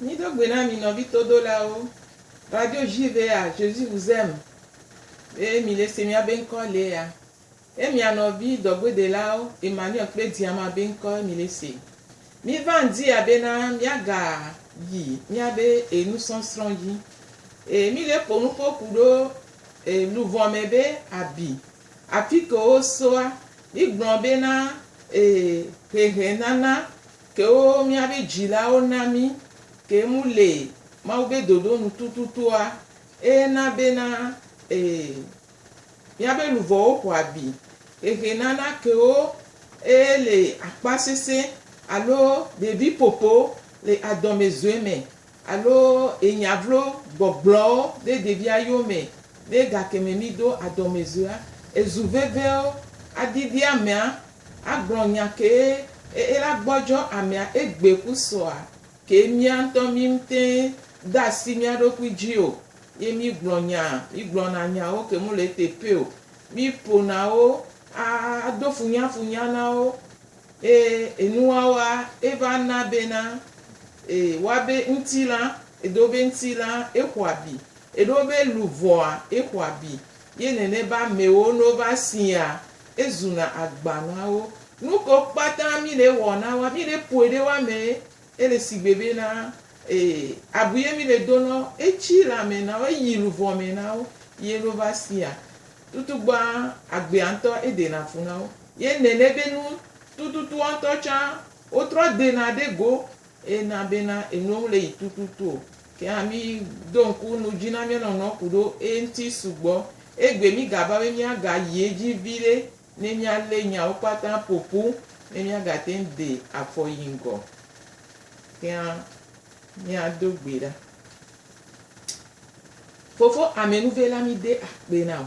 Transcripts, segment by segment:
Mí do gbe na mi nɔvi todolawo. Radio JVA, Jésus vous aime. Ye mi le se mía be ŋkɔ le ya. Ye mia nɔvi dɔgbedelawo Emmanuel kple Diama be ŋkɔ ye mi le se. Mí va ŋdi ya be na mía ga yi mía be enusɔsrɔ̃ dzi. Ye mi le ƒo nuƒo ku ɖo E luvɔ mɛ be abi. Afi ke wo soa, mi gblɔ be na e hehe nana kewo mia be dzila wo na mi ke mu le Mawu be dodo nu tututua e na be na e mia be luvɔ wo xɔ abi. Hehe nana kewo e le akpa sese alo ɖevi popo le adɔme zoe mɛ Alo enya vlo gbɔgblɔwo ɖe ɖevia yomɛ ɖe gakeme mi do adɔmɛzua ezu veveo adidi amɛa agblɔ nya kee e ela gbɔjɔ amɛa egbe ku sɔa ke miantɔ mim tɛn dasi miaɖokui ji o ye mi gblɔ nya mi gblɔna nyawo ke mole ete pɛo mi ponawo a ado funyafunya nawo Ee, enuwawa eva na bena, e, wa be ŋtilã, edo be ŋtilã exɔ abi, eɖo be luvɔa exɔ abi, ye nene be amewo no va siaa, ezuna agba na wo. Nuko kpata mi le wɔ na wa, mi le poe ɖe wa me Ele sigbe be na ee abu ye mi le do nɔ etsi le amɛ na wo eyi luvɔ mɛ na wo ye lo va sia tutu gbɔa agbea ŋtɔ ede na fu na wo ye nɛnɛ be nu tututua ŋtɔ tsa wo trɔ de na ɖe go e na be na enu ŋle yi tututu o ke hã mi do ŋku nu dzi na mia nɔnɔ kuɖo eŋti sugbɔ egbe mi ga va be mia ga yi edzi viɖe Ne míalé nyawo kpata ƒo ƒu, ne míagate ŋu de afɔ yi ŋgɔ kea, míado gbe ɖa. Fofo Amenuve la, mide akpe na wò.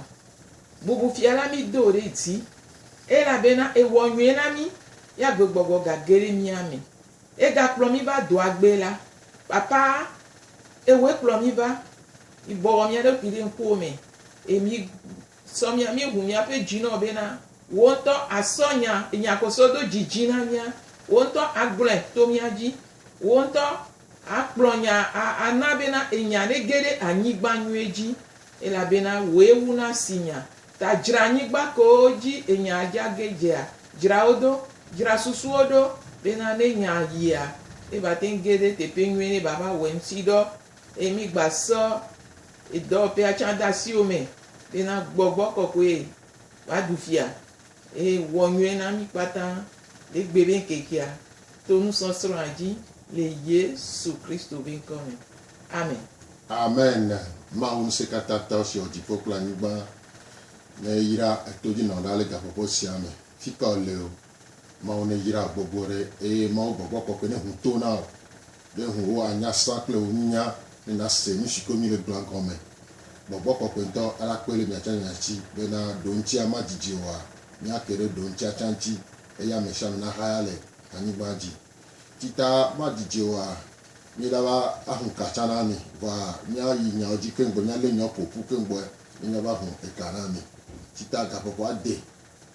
Bubu fia la, mido wò ɖe dzi, elabena èwɔ nyui na mí, ye agbegbɔgbɔ gage ɖe mía me. Ègakplɔ mí va doa gbe la. Papa, èwɔe kplɔ mí va. Mibɔbɔ mía ɖokui ɖe ŋkuwò me, eye mi, Sɔ mia míeʋu míaƒe dzi nɔ bena wò ŋutɔ àsɔ nya nya koso do dzi dzi na mía. Wò ŋutɔ agblɔe to mía dzi. Wò ŋutɔ akplɔ nya a ana bena enya nege ɖe anyigba nyuie dzi. Elabena wòe wu na si nya. Ta dzra anyigba kewo dzi enya dza ge dzea. Dzra wo do. Dzra susuwo ɖo bena ne nya yia, ne va te ŋu ge ɖe teƒe nyuie ne va va wɔ eŋuti dɔ. Eye mígba sɔ Yi dɔwɔƒea tsã de asiwò me be na gbɔgbɔ kɔkɔe wòaɖu fia eye wɔ nyuie na mí kpata le gbe be ŋkekea to nusɔsrɔ̃a dzi le Yesu Kristo be ŋkɔ me. Amen. Amen Mawu ŋusẽkatãtɔ si wɔ dziƒo kple anyigba neyra etodzinɔnɔ ɖa le gaƒoƒo sia me fika wòle o. Mawu neyra wò gbogbo ɖe eye Mawu gbɔgbɔ kɔkɔe neʋu to na wò Ɖe ŋuwò anya srã kple wò nunya ne nàse nu si koe míele gblɔa gɔme? Gbɔgbɔ kɔkɔe ŋutɔ la koe le mia tsã nya si bena ɖoŋutia madidi oa? Míake ɖe ɖoŋutia tsã ŋuti eye ame sia ame nahaya le anyigba dzi. Ti ta madidi oa? Míela be ahu ka tsã na mi, vɔa míayi nyawo dzi keŋ gbɔe, míalé nyawo ƒo ƒu keŋ gbɔe ne míava hu eka na mi. Ti ta gaƒoƒo ade.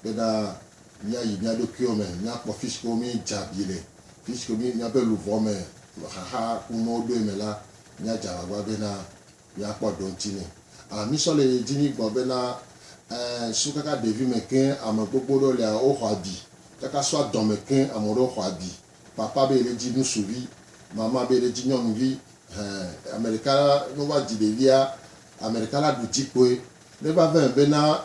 Kpe ɖa míayi mía ɖokuiwo me míakpɔ fisi ke míedze abi le. Fisi ke míaƒe luʋɔ me xaxa kunuwo ɖoe me la, míadze agbagba bena míakpɔ ɖoŋti nɛ. A Mísɔ le yi dzi mígblɔ bena, Ẽ, so kaka ɖevi me ke ame gbogbo ɖewo lea, woxɔ abi. Kaka so adɔ me ke ame ɖewo xɔ abi. Papa be yele dzi ŋusuvi, mama be yele dzi nyɔnuvi. Ẽ, ame ɖeka ne wova dzi ɖevia, ame ɖeka la ɖu dzi kpɔe. Ne va va eme bena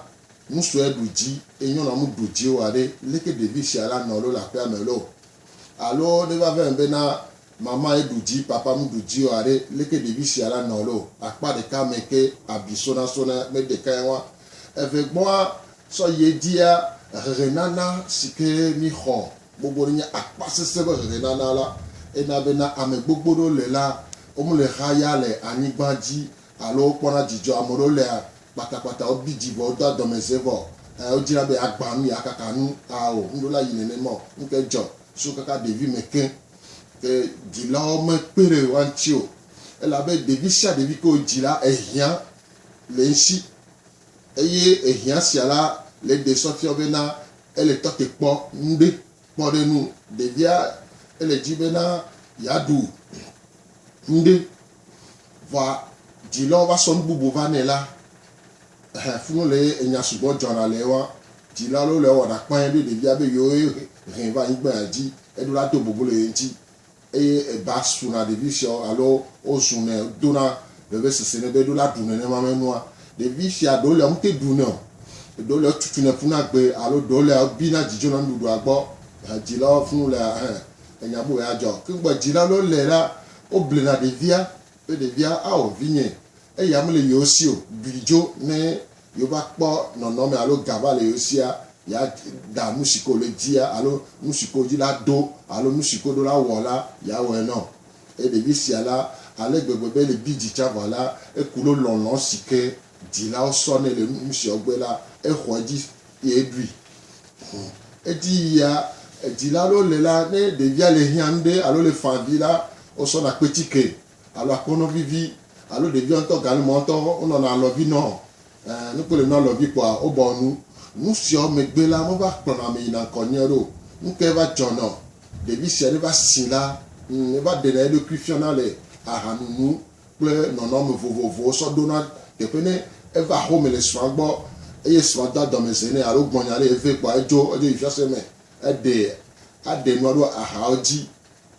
Nu sue ɖu dzi eye nyɔnua mu ɖu dzi o aɖe, leke ɖevi sia la nɔ alo le aƒea me loo? Alo ne va vem be na mama ye ɖu dzi, papa mu ɖu dzi o aɖe, leke ɖevi sia la nɔ loo? Akpa ɖeka me ke abi sonasona me ɖekae wa. Evegbɔa, sɔ yi edzia, hehenana si ke míxɔ gbogbo ɖe nye akpa sesẽ be hehenana la. Ena be na ame gbogbo ɖewo le la, womele xa ya le anyigba dzi alo wokpɔna dzidzɔ, ame ɖewo lea kpatakpata, wobi dzi vɔ, wodoa dɔmeze vɔ, ɛ wodzina be yeagbã nu, yeakaka nu. Ao, ŋɖo la yi nɛnɛ mɔ. Ŋkɛ jɔ so kaka ɖevi mɛ keŋ. Ke dzilawo mekpe ɖe woa ŋti o. Ele abe ɖevi sia ɖevi ke wodzi la, ehiã le eŋsi. Eye ehiã sia la le ɖe sɔ fiɔ bena ele tɔte kpɔ ŋɖe. Kpɔ ɖe nu, ɖevia ele edzi bena yeaɖu nuɖe, vɔa dzilawo va sɔ nu bubu va nɛ la, ɛhɛ, funu le ye enya sugbɔ dzɔna le ewa. Dzila lɔ le ewɔna kpãe be ɖevia be yewo hɛ va anyigba dzi, eɖo la do bubu le ye ŋti. Eye eba suna ɖevi siawo alo wozunɛ dona vevesese nɛ be eɖo la ɖu nenema me nua. Ɖevi sia ɖewo lia womete ɖunɛ o, ɖewo lia wotutunɛ ƒuna gbe alo ɖewo lia wobina dzidzona nuɖuɖua gbɔ. Dzilawo fũ lia hẽ enya bubu ya dzɔ. Ke gbɔ dzilawo lé la, woblena ɖevia Be ɖevia awɔ vinye, eya mele yewo si o, bui dzo ne yewova kpɔ nɔnɔme alo ga va le yewo sia, yeada nusi ke wòle dia alo nusi ke wòdi la do alo nusi ke woɖo la wɔ la, yeawɔe nɔ eye ɖevi sia la ale gbegbe be le bidzi tsã vɔ la, eku ɖo lɔlɔ̃ si ke Dzilawo sɔnɛ le nu siawo gbe la, exɔ edzi ye eɖui. Ɔ, edi yia edzila aɖewo le la, ne ɖevia le hiã nuɖe alo le fã vi la, wosɔna kpetsike alo akpɔnɔ vivi alo ɖevia ŋutɔ galima ŋutɔ wonɔna alɔvi nɔ. Ɛ, ne kpɔe le nua alɔvi kpɔa, wobɔa nu. Nu siawo megbe la, meva kplɔna ame yina ŋkɔ nyuie aɖe o. Nu kae va dzɔ nɔ ɖevi sia ne va si la? Ŋ, eva ɖena eɖokui fiana le ahanunu kple nɔnɔme vovovowo sɔ ɖona teƒe ne eva home le srɔ̃a gbɔ eye srɔ̃a doa dɔmezee nɛ alo gblɔ nya ɖe ye vɛ kpɔa edzo edzo yi fiase me eɖe aɖe nua ɖo ahawo dzi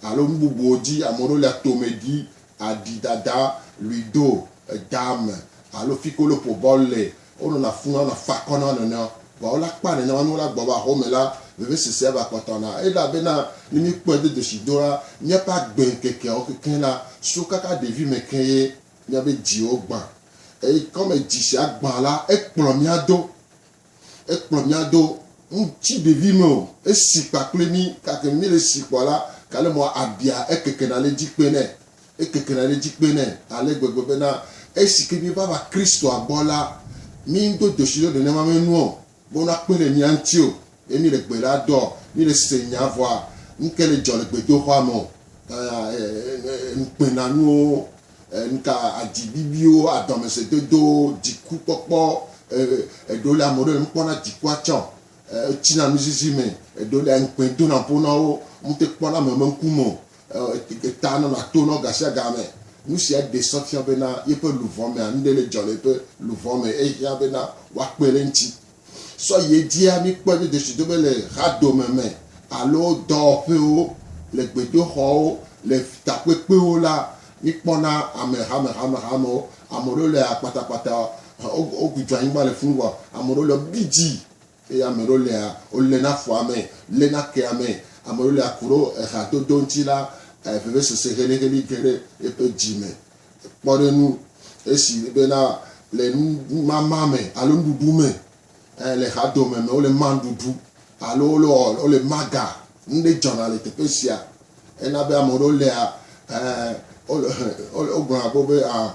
alo nu bubuwo dzi ame ɖewo lia tome ɖi aɖi dada luido edame alo fikolopo bɔl le Wonɔna funa, wonɔna fa akɔ na wo nɔnɔewo. Vɔ wole akpa nɛnɛ wɔm, ne wole agbɔ va home la, vevesese va kpɔtɔ na wo. Elabena ne míkpɔe do dzesi do la, míaƒe agbeŋkekeawo kekeŋ la so kaka ɖevime ke ye míaƒe dziwo gbã. Eye kɔme dzi si agbã la, ekplɔ mía do, ekplɔ mía do nu tsi ɖevime o, esi kpakple mí. Gake ne míele esi kpɔ la, kale mɔ abia ekekena le edzi kpe nɛ. Ekekena ɖe edzi kpee nɛ ale gbegbe bena esike míeva va Kristoa gbɔ la, míedo dzoshi ɖe nenema me nu o, be wonakpe ɖe mía ŋuti o, ye míele gbe ɖa dɔ, míele se nya vɔa nuke le dzɔ le gbedoxɔa me o, ŋukpenanuwo, nuka, adzi bibiwo, adɔmesese dodowo, dziku kpɔkpɔ, eɖewo lia, ameɖewo le nu kpɔm na dzikua tsɛ o, wotsi na nuzizi me, eɖewo lia, ŋukpe dona ƒo na wo, womete kpɔna ame be ŋku me o, Taa nɔna to nɔ gasiagame. Nu sia ɖee sɔ fia bena yeƒe luʋɔ mea, nuɖe le dzɔ le yeƒe luʋɔ me eye hiã bena woakpe ɖe eŋuti. Sɔ yi edzia, míkpɔe be dzesidodo le hadome me alo dɔwɔƒewo, le gbedoxɔwo, le takpekpewo la, míkpɔna ame hamehamehamewo. Ame aɖewo le akpatakpata, wogbugbɔa anyigba le fũu vɔ ame aɖewo le bidzi. Eye ame ɖewo lea, wolé na afɔa me, lé na kea me, ame ɖewo lea ku ɖo eha dodo ŋuti la, vevesese helĩhelĩ ge ɖe eƒe dzi me. Kpɔ ɖe ŋu, esi bena le numama me alo nuɖuɖu me, ɛ, le eha dome me, wole ma nuɖuɖu alo wole ɔ, wole ma ga. Nu ɖe dzɔna le teƒe sia. Ena be ame ɖewo lea, ɛ, wole, wogblɔna kpɔ be, a,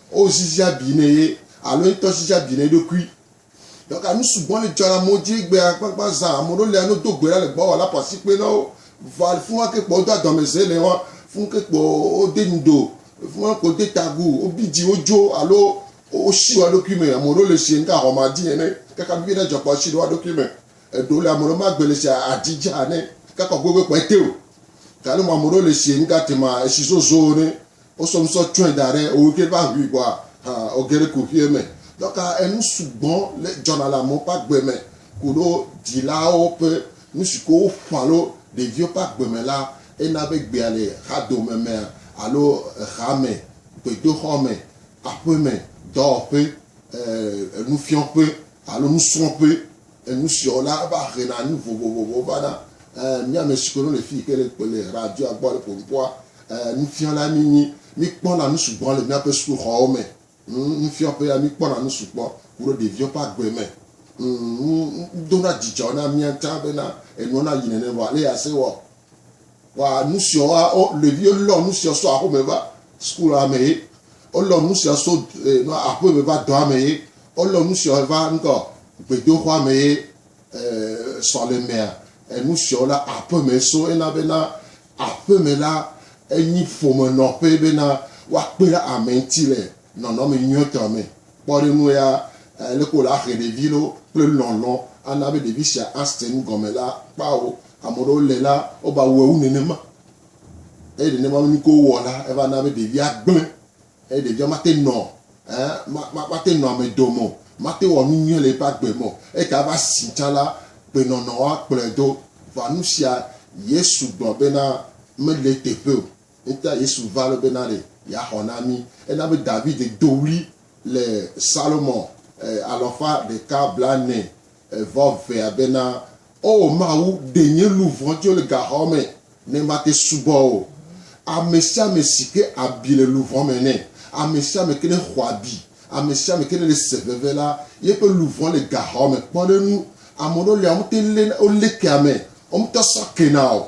Wo zizia bi ne ye alo ye ŋutɔ zizia bi ne eɖokui. Dɔka nu sugbɔ le dzɔ le amewo dzi egbea kpakpa zã. Ame ɖewo lia no do gbe ɖa le gbɔwɔ la ƒo asikpe na wo. Vɔa le fima ke kpo wodo adɔmeze le wa fun ke kpo wode nu do. Le fima kpo wode tagu, wobi dzi, wodzo alo woshi wa ɖokui me. Ame ɖewo le si ŋka hɔma dzi ene kaka bibi ɖe dzɔ kpo ashi ɖe wa ɖokui me. Eɖewo le ame ɖewo magbe le si adzi dzi hane kaka gbogbe kpo ete o. Galo ma ame ɖewo le si ŋka tema esi zozo ene. Wosɔ ŋusɔ tsɔe da ɖe wo ɖokui ƒe aʋui gbɔ hã woge ɖe kuxuie me. Dɔ ka enu sugbɔ le dzɔna le amewo ƒe agbe me koɖo dzilawo ƒe nu si ko woƒã alo ɖeviwo ƒe agbe me la hena be gbea le xadome me alo exa me, gbedoxɔ me, aƒeme, dɔwɔƒe, nufiɔƒe alo nusrɔ̃ƒe. Enu siɔ la va he na nu vovovovowo va na mía ame siwo no le fii ke le kpɔ le radioa gbɔ le ƒo ŋkɔa. Nufiala mi nyi. Mi kpɔ na nu sugbɔ le mía ƒe suku xɔwo me. Nufiɔƒea mi kpɔ na nu sugbɔ ku ɖe ɖeviwo ƒe agbe me. Nu do na dzidzɔ na mía ŋta be na enuɔ na yi nene vɔ ale ya se wɔ Wa nusia wa o ɖevi lɔ nusia so aƒeme va sukulu ame ye. Wolɔ nusia so eh, aƒeme va dɔ ame ye. Wolɔ nusia va ŋkɔ gbedoxɔ ame ye eh, sɔlemea. Enusia wo la aƒeme so ena bena aƒeme la enyi ƒome nɔƒe bena woakpe ɖe ame ŋuti le nɔnɔme nyuietɔ me. Kpɔɖeŋu ya, aleke wòle ahe ɖevi loo kple lɔlɔ̃ ana be ɖevi sia ase nu gɔme la, kpao ame aɖewo le la, wova wɔe wu nenema. Eye nenema be nu ke wowɔ la, eva na be ɖevia gblẽ eye ɖevia mate nɔ ɛ ma mate nɔ ame dome o, mate wɔ nu nyui le eƒe agbe me o. Eyike ava si tsã la, gbenɔnɔwo akplɔe do. Vɔa nusia Yesu gblɔ bena mele eteƒe o. Eŋuta Yesu va ɖo bena ɖe yeaxɔ na mí. Ena be David do ɣli le Psalmo alafa ɖeka blaene vɔ evea bena, O Mawu, ɖe nye luʋɔ tso le gaxɔ me ne mate subɔ wò. Amesiame si ke abi le luʋɔ me nɛ. Amesiame ke ne xɔ abi, amesiame ke ne le se veve la, yeƒe luʋɔ le gaxɔ me kpɔ ɖe ŋu. Ameɖewo lia, wote lena, wolékea me, wo ŋutɔ sɔ kena o,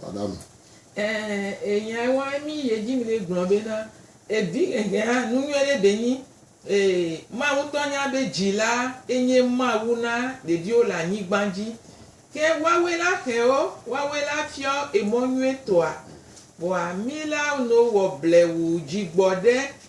Taɖa me. Ẽ, eyae wa mí ye dzi mí gblɔ be na e vi hehe hã nu nyuie ɖe ɖe nyi. E, Mawu ŋutɔ nya be dzi la e nye Mawu na ɖeviwo le anyigban dzi. Ke woawe la xe ɔ, woawe la fiɔ emɔ nyuie tɔa. Vɔa mí la no wɔ blewu dzi gbɔ ɖe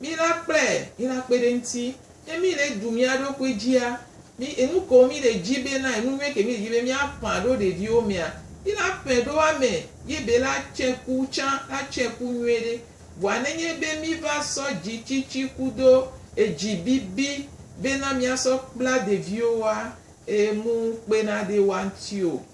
Mí la kplɛ yi la kpe ɖe ŋti. Ŋke mí le ɖu mía ɖokui djia, mí enu kewo mí le dji be na enu nyuie ke mí le dji be mía ƒã ɖo ɖeviwo mea, mí la ƒɛ ɖo ame ye be la tsɛ ku tsã la tsɛ ku nyuie ɖe. Vɔa ne nye be mí va sɔ dji tsitsi kudo edji bibi be na mía sɔ kpla ɖeviwo woa, e mu ŋukpe na ɖe woa ŋti o.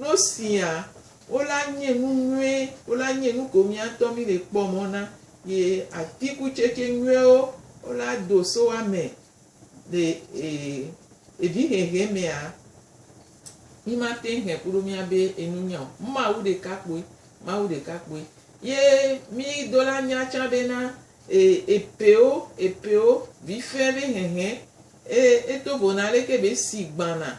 Nɔ sia wo la nye nu nyuie wo la nye nu ko miatɔ mi le kpɔ mɔ na ye atikutsetse nyuiewo wo la do so ame le evi hehe mea mi ma te he kuɖo mia be enu nya o mawu ɖeka kpoe mawu ɖeka kpoe ye mi do la nya tsa be na epewo epewo vi fe be hehe e eto vona leke be si gbana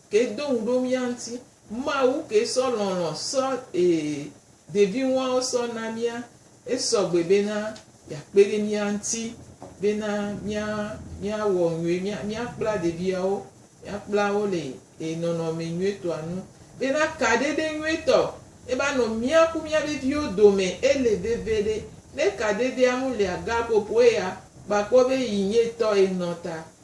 Ke do ŋu ɖo mía ŋuti. Mawu ke sɔ lɔlɔ̃ sɔ e ɖevi ŋuawo sɔ na mía. Esɔ gbe be na yeakpe ɖe mía ŋuti be na mía míawɔ nyuie mía míakpla ɖeviawo míakpla wo le e nɔnɔme nyuietɔa nu. Be na kaɖeɖe nyuietɔ eva nɔ mía ku mía ɖeviwo dome ele veviɖe. Ne kaɖeɖea ŋu le aga ƒoƒoe ya, kpɔ akpɔ be yi nyuietɔ enɔ ta.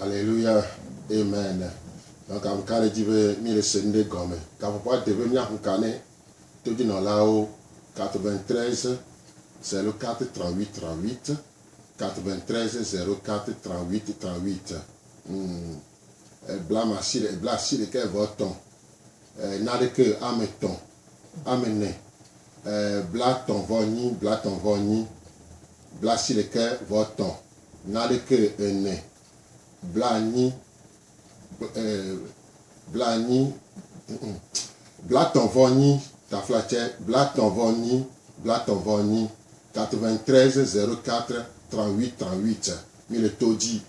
Alleluia, Amen! Nɔga ŋu ka ɖe dzi be míele se nuɖe gɔme? Gaƒoƒoa de be míaƒu ka ne todzinɔlawo 93 04 38 93 04 38 38 ŋu ebla asi ɖe ebla asi ɖeka eve etɔ̃ e naɖeke ame etɔ̃ ame ene e blatɔ̃ vɔ nyi blatɔ̃ vɔ nyi bla asi ɖeke vɔ etɔ̃ Naneke ene, blaenyi, blaenyi, blatɔ̃-vɔ-nyi, taflatsɛ, blatɔ̃-vɔ-nyi, blatɔ̃-vɔ-nyi, 93 04 38 38, mi le to dzi.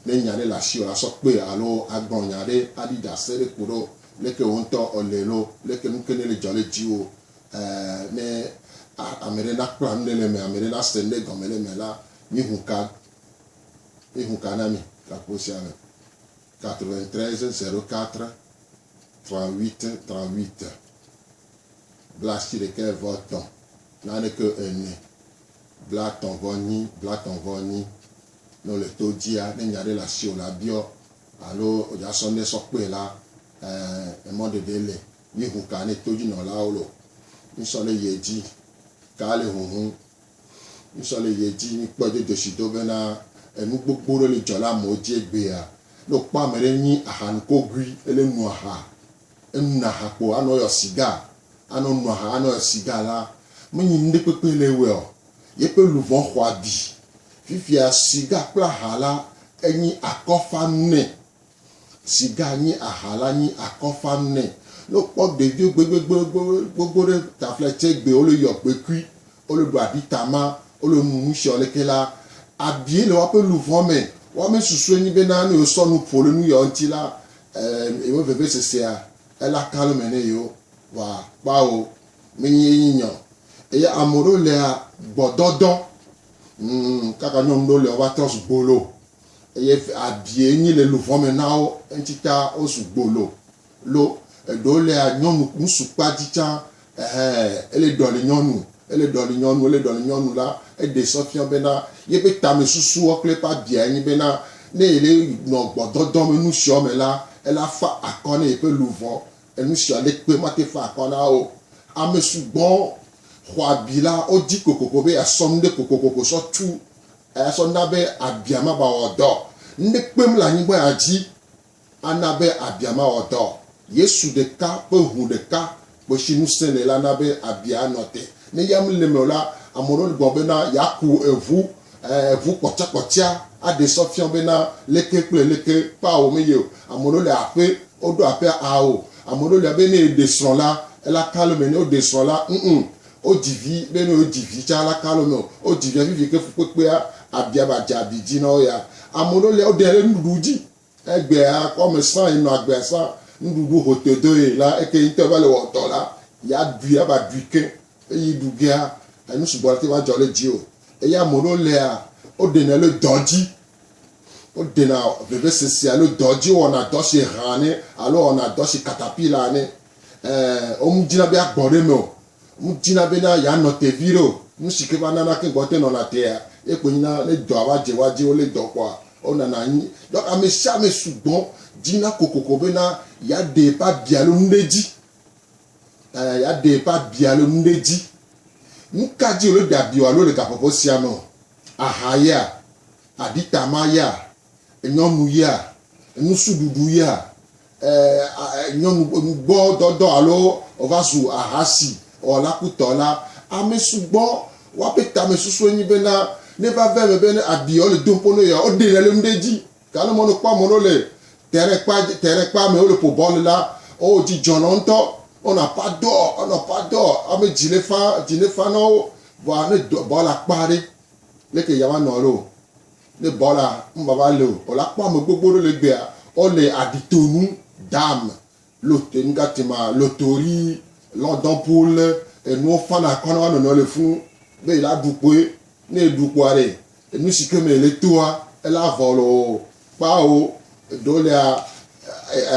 Ne nya ɖe le asiwò la, sɔ kpe alo agblɔ nya ɖe aɖi ɖase ɖe koɖo leke wò ŋutɔ èle lo, leke nuke ne le dzɔ ɖe dziwò, ne ameɖe nakpla nuɖe le eme, ameɖe nase nuɖe gɔme le eme la, Míeho ka, míeho ka na mi le agbo sia me, 93 04 38 38 blaasiɖekɛ vɔ tɔ naneke ene blatɔ̃ vɔ nyi blatɔ̃ vɔ nyi. Ne wole to dzia, ne nya ɖe le asiwò la, biɔ alo wodza sɔ ŋɖe sɔ kpɔe la, ɛɛ emɔ ɖeɖe li. Míeho ka ne todzinɔlawo loo. Mísɔ ɖe yie dzi. Ka le huhum Ŋusɔ le ye dzi. Mí kpɔɛ do dzoshi do bena enu gbogbo ɖe li dzɔ le amewo ji egbea. Ne wo kpɔ amɛɖe nyi aha nukogui, ele nu aha, enu na aha kpo anɔ yɔ siga, anɔ nu aha, anɔ yɔ siga la, me nyi nuɖekpekpe le ewɛ ɔ, yeƒe luvɔn xɔ abi. Fifia, siga kple aha la enyi akɔfanu nɛ. si ga nyi aha la nyi akɔ fam nɛ. Ne wo kpɔ ɖevi gbegbegbegbegbegbe ɖe taflɛ tse gbe wo le yɔ gbekui, wo le ɖu abi tama, wo le nu nu shiɔ leke la, abiɛ le woaƒe luvɔ me. Woa me susue nyi be na ne yewo sɔ nu ƒo le nu yɔ ŋti la, em, yewo veve sesea ele aka lome ne yewo. Wa kpɔa wo me nyi ye nyi nyɔ. Eye amewo ɖewo lea gbɔdɔdɔ, ŋm, kaka nyɔnu ɖewo lea wo va trɔ zu gbolo. Eye abiɛ nyi le luʋɔ me na wo, eŋtsi ta wo su gbolo lo. Eɖewo lea nyɔnu ŋsu kpa dzi tsã, ɛhɛ, ele ɖɔli nyɔnu, ele ɖɔli nyɔnu, ele ɖɔli nyɔnu la, eɖe sɔ fiɔ bena yebe tame susuɔ kple eƒe abiae nyi bena ne yele nɔ gbɔdɔdɔ me nusiɔ me la, ela fa akɔ ne yeƒe luʋɔ. Enusia le kpe mate fa akɔ na wo. Ame sugbɔ xɔ abi la wo di kokoko be yeasɔ nuɖe kokokoko sɔ tu Eya sɔ na be abia mabawɔ dɔ ŋɖe kpem le anyigba ya dzi ana be abia mawɔ dɔ. Yesu ɖeka ƒe ŋu ɖeka koe si ŋusẽ le la na be abia anɔ te. Ne ya mele eme o la, ame aɖewo gblɔ bena yeaku eŋu, eŋu kpɔtsakpɔtsia aɖee sɔ fia bena leke kple leke ƒe awu meye o. Ame aɖewo le aƒe, woɖo aƒea awu. Ame aɖewo le be ne yeɖe srɔ̃ la, ela kalome ne woɖe srɔ̃ la. Ŋ-ŋ. Wodzi vi, be ne wodzi vi tsã la, kalo me o. Wodzi via vivi ke fukpekpea abia ba dze abi dzi na wo ya. Ame ɖewo lia, woɖea ɖe nuɖuɖu dzi. Egbea kɔ me sã yi nɔ agbea sã, nuɖuɖu ho to do ye la, eke ŋutɔ va le wɔ dɔ la, ya ɖui ava ɖui ke. Eyi ɖu gea, enu sugbɔ la te va dzɔ ɖe dzi o. Eye ame ɖewo lia, woɖenɛ le dɔ dzi. Woɖena vevesese alo dɔ dzi, wowɔna dɔ si hã ne alo wɔna dɔ si katapila ne. Wo mu dina be ya gbɔ ɖe eme o. Wo mu dina be na ya nɔ te viɖe o. Nu si ke va nana keŋ gbɔ te nɔna tea, ye kpoe nyina ne dɔa va dze woa dzi, wo le dɔ kpɔa, wo nana anyi. Donc ame sia ame sugbɔ dina kokoko be na ya ɖe eƒe abi alo nu ɖe dzi. Ɛ, ya ɖe eƒe abi alo nu ɖe dzi. Nu ka dzi wòle ɖe abi o alo le gaƒoƒo sia me o? Aha yea? Aɖitama yea? Nyɔnu ya, nusiɖuɖu ya, nyɔnu nugbɔ dɔdɔ alo wòva zu ahasi wɔla kutɔ la, ame sugbɔ woaƒe tamesusue nyi bena ne va ve eme be ne abi yewo le dom ƒo ne yewoa, woɖe le nu ɖe edzi. Gake ne mɔ ne kpɔ ame ɖewo le terrain kpa, terrain kpa me wole ƒo bɔl la, oo dzi dzɔ nɔ ŋutɔ. Wonɔ aƒa dɔ, wonɔ aƒa dɔ, ame dzi le fã, dzi le fã nɔ wo. Vɔa ne bɔla kpa ɖe, leke yeawa nɔ ɖo? Ne bɔ la, nuvava le o. Bɔ la kpɔ ame gbogbo ɖe le egbea. Wo le aɖi to nu dam lo te nu ga tema lo tori lɔ dɔn pu le enuwo fan akɔ na wa nɔnɔ le funu be ela ɖu kpoe. Ne eɖu kpoa ɖe enu si ke me ele toa ela vɔ lo o. Kpao eɖewo lea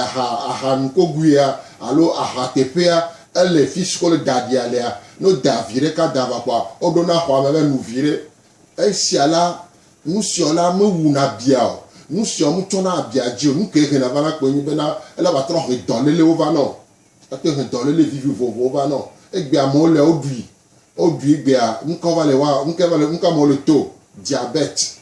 aha aha nukoguia alo aha teƒea ele fisi ke wo le da aɖia lea. Ne wo da vi ɖeka da va kpoa wo ɖo na xɔa me be nu vi ɖe Esia la, nusia la mewuna bia o, nusia mutsɔna abia dzi o, nukae hena vana kpɔe nye bena ele vatrɔ he dɔlélewo vana o, ate he dɔlele vivi vovovowo vana o. Egbea amewo le woɖui, woɖui egbea nuka wova le wa, nukae va le, nuka amewo le to, diabète,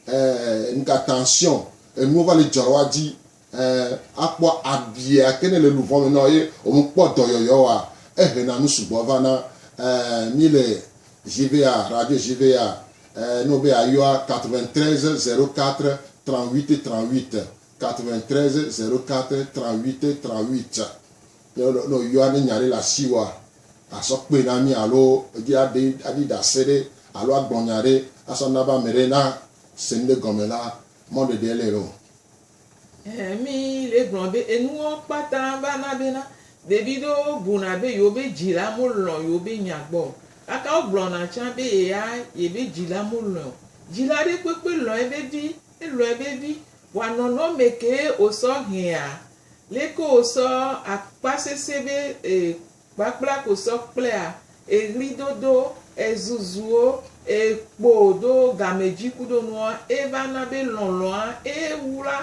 ɛɛ, nuka, tension, enuwo va le dzɔ ɖe woa dzi. Ẽ, akpɔ abia ke nele luvɔ me nɔ ye omu kpɔ dɔyɔyɔ wa ehe na nu sugbɔ va na. Ẽ, mi le JVA, radio JVA, ẽ, ne wo be ya yɔa 93 04 38 38, 93 04 38 38. Ne wo, ne wo yɔa ne nya ɖe le asi woa, a sɔ kpɔe na mi alo edzi a ɖe, a ɖi ɖase ɖe alo a gblɔ nya ɖe a sɔ na be ameɖe na se nuɖe gɔme la, mɔɖeɖe le eo. Ɛɛ, mí le gblɔ be enuwo kpata va na bena ɖevi ɖewo buna be yewobe dzila mo lɔ̃ yewobe nya gbɔ o. Gake wo gblɔna tsã be yea yebe dzila mo lɔ̃e o. Dzila ɖe kpekpe lɔ̃ ebe vi, elɔ̃ ebe vi. Vɔa nɔnɔ me kee wosɔ hea? Leke wosɔ akpa sese be e. Kpakpla ko sɔ kplea eɣlidodo, ezuzuwo, ekpo do gamedjui kudo nua eva na be lɔlɔa ee wla.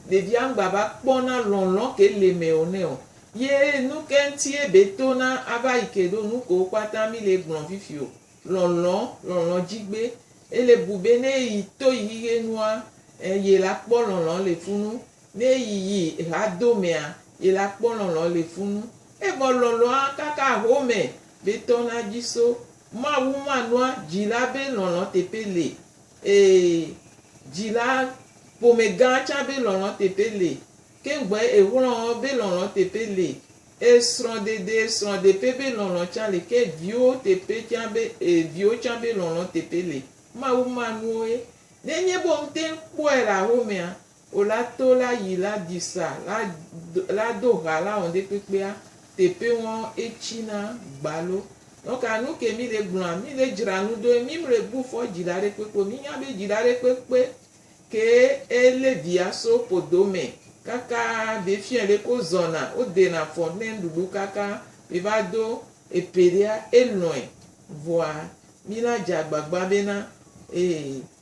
Ɖevia ŋgba va kpɔ na lɔlɔ ke le me o nɛ o. Ye nuke ŋti ebe to na ava yi ke ɖo nukewo kpata mi le gblɔ fifi o. Lɔlɔ, lɔlɔ djigbe. Ele bu be ne eyi to yi xixenua, e ye la kpɔ lɔlɔ le funu. Ne yi yi ha do mea, yi la kpɔ lɔlɔ le funu, evɔ lɔlɔa kaka ahome be tɔ na dzi so. Mawu ma nua dzi la be lɔlɔ teƒe le, ee, dzi la ƒome gã tsa be lɔlɔ teƒe le. Keŋgbɔe ehlɔ be lɔlɔ teƒe le, e srɔ̃ dede srɔ̃ deƒe be lɔlɔ tsa le, ke viwo teƒe tsa be, ee, viwo tsa be lɔlɔ teƒe le. Mawu ma nuoe. Ne nye be wo ŋte ŋkpɔe le ahomea, O la to la yi la di sa la la do ha la ɔn ɖe kpekpea tepe ŋɔ etsi na gbalo. Nɔ ka nu ke mi le gblɔa? Mi le dzra nu do ye mi mle bu fɔ dzi la ɖe kpekpe o. Mi nya be dzi la ɖe kpekpe ke e le via so podo me kaka be fiɛ le ke wo zɔna wo de na fɔ ne nuɖuɖu kaka be va do epe ɖea e lɔɛ. Vɔa mi la dza gbagba be na e.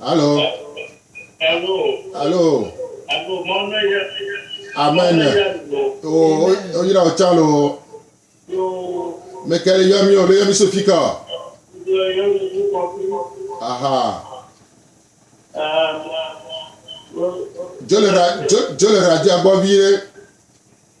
Alo. Alo. Alo. Alo mɔnu ya. Amen. O o yira o tsa lo. Mekele yɔ mi o le yɔ mi so fi ka. Aha. Jolera jolera dia gbɔ vie.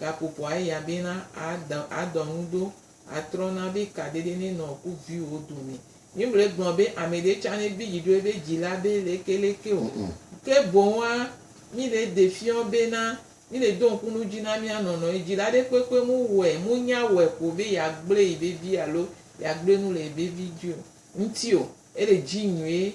gakuku ayi abi na ada adɔ nu do atrɔ na bi ka dede ne nɔ ku vi wo do ne mi mle gblɔ be ame ɖe tsa ne bi dzi ɖo ebe dzi la be leke leke o ke boŋ wa mi le de fiɔ be na mi le do ŋku nu dzi na mia nɔ nɔ yi dzi la ɖe kpekpe mu wɛ mu nya wɛ ko be ya gble yi be vi alo ya gble nu le yi be vi dzi o ŋti o ele dzi nyuie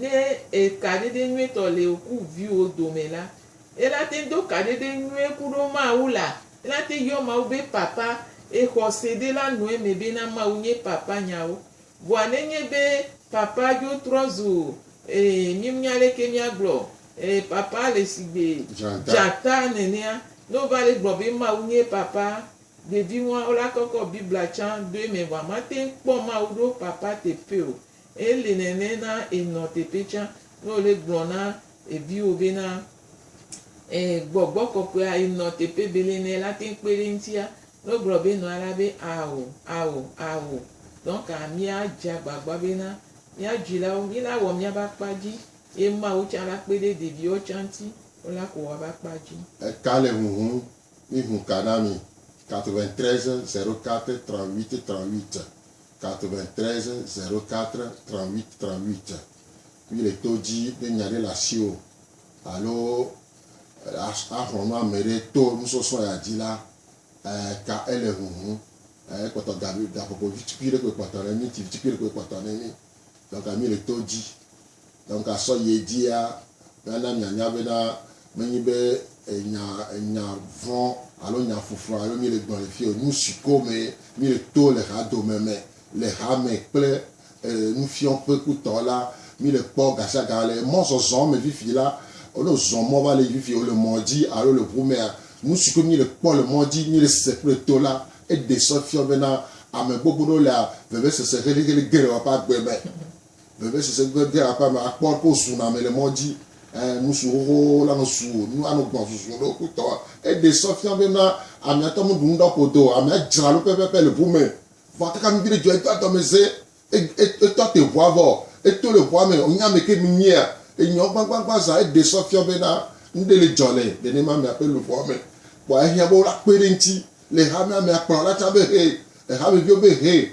Ne kaɖeɖe nyuitɔ le ku viwò dome la, ela teŋ do kaɖeɖe nyuie ku ɖo Mawu la. Ela teŋ yɔ Mawu be Papa. Exɔ se ɖe la nɔ eme be na Mawu nye Papa nyawo. Vɔa ne nye be Papa dzo trɔ zu ee mi mnya leke mia gblɔ ee Papa le sigbe dzata nenea, ne wo va le gblɔ be Mawu nye Papa, ɖevi nua wo la kɔkɔ Biblia tsã do eme vɔa ma teŋ kpɔ Mawu ɖo Papa teƒe o. Eli nene na ènɔ teƒe tsã ne wòle gblɔ na eviwo bena, e, gbɔgbɔ kɔkɔea enɔ teƒe bele nɛ la te kpe ɖe eŋutia ne wogblɔ be nɔa la be ao, ao, ao. Donc míadze agbagba bena mía dzilawo, míla wɔ míabe akpa dzi ye Mawu tsã la kpe ɖe ɖeviwo tsã ŋuti wola ko woabe akpa dzi. Eka le huhum, mi hu ka na mi. 93 04 38 38. 93 04 38 38 Mí le to dzi be nya ɖe le asiwò alo axlɔ̃ nu ame ɖe to nusɔsrɔ̃ ya dzi la, ka ele huhum. Ekpɔtɔ ga vi, gakpɔkpɔ vi tukui ɖe koe kpɔtɔ nɛ mí, ti vi tukui ɖe koe kpɔtɔ nɛ mí. Donc mí le to dzi Ne ŋgasɔ yi edzia, míana mianya bena menye be nya, nya vɔ̃ alo nya ƒuƒu alo míele gblɔm le fiye o. Nusi ko me míeto le hadome me, le hame kple e, nufiɔƒe kutɔ la, míele kpɔ gasiaga. Le mɔzɔzɔ me fifi la, ne wozɔ mɔ va le fifi wole mɔ dzi alo le ŋu mea, nusi koe míele kpɔ le mɔ dzi, míele se kple to la, eɖe sɔ fiɔ bena ame gbogbo ɖewo le vevesese heliheli geɖewo ƒe agbe me. Veve si se gbe dea aƒea me akpɔ ɖe ko zuna ame le mɔ dzi. Ẽ, nusu xoxo la nɔ su wò nu anɔ gbɔn zuzu ɖe wokutɔ. Eɖe sɔ fia bena ame atɔ meɖu nu ɖa ƒodo o, amea dzra lo pɛpɛpɛ le ʋu me. Vɔa kaka nu viɖe dzɔ, edo adɔmeze, e, e, etɔ te ʋua vɔ, eto le ʋua me, wònya ame ke minyea. Enyɔ gbagbagba zã. Eɖe sɔ fia bena nuɖe le dzɔ le nenema amea ƒe luʋɔa me. Kpɔa ehiã be wola kpe ɖe eŋuti le hamea me. Akplɔ la tsã be, Hee! Ehameviwo be, Hee!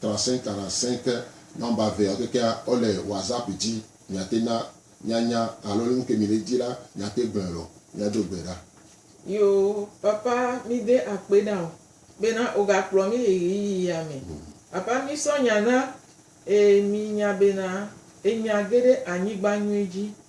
Trasẽ trasẽ ke nɔmba vea keke a ɔ le WhatsApp ji mia te na mia nya alo le nuke mi le ji la mia te gblɔe lɔ mia do gbe ɖa. Yo papa mi de akpe ɖa o bena o ga kplɔ mi le ɣeyiɣi ya me. Papa mi sɔ nya na e mi nya bena e nya ge ɖe anyigba nyuie ji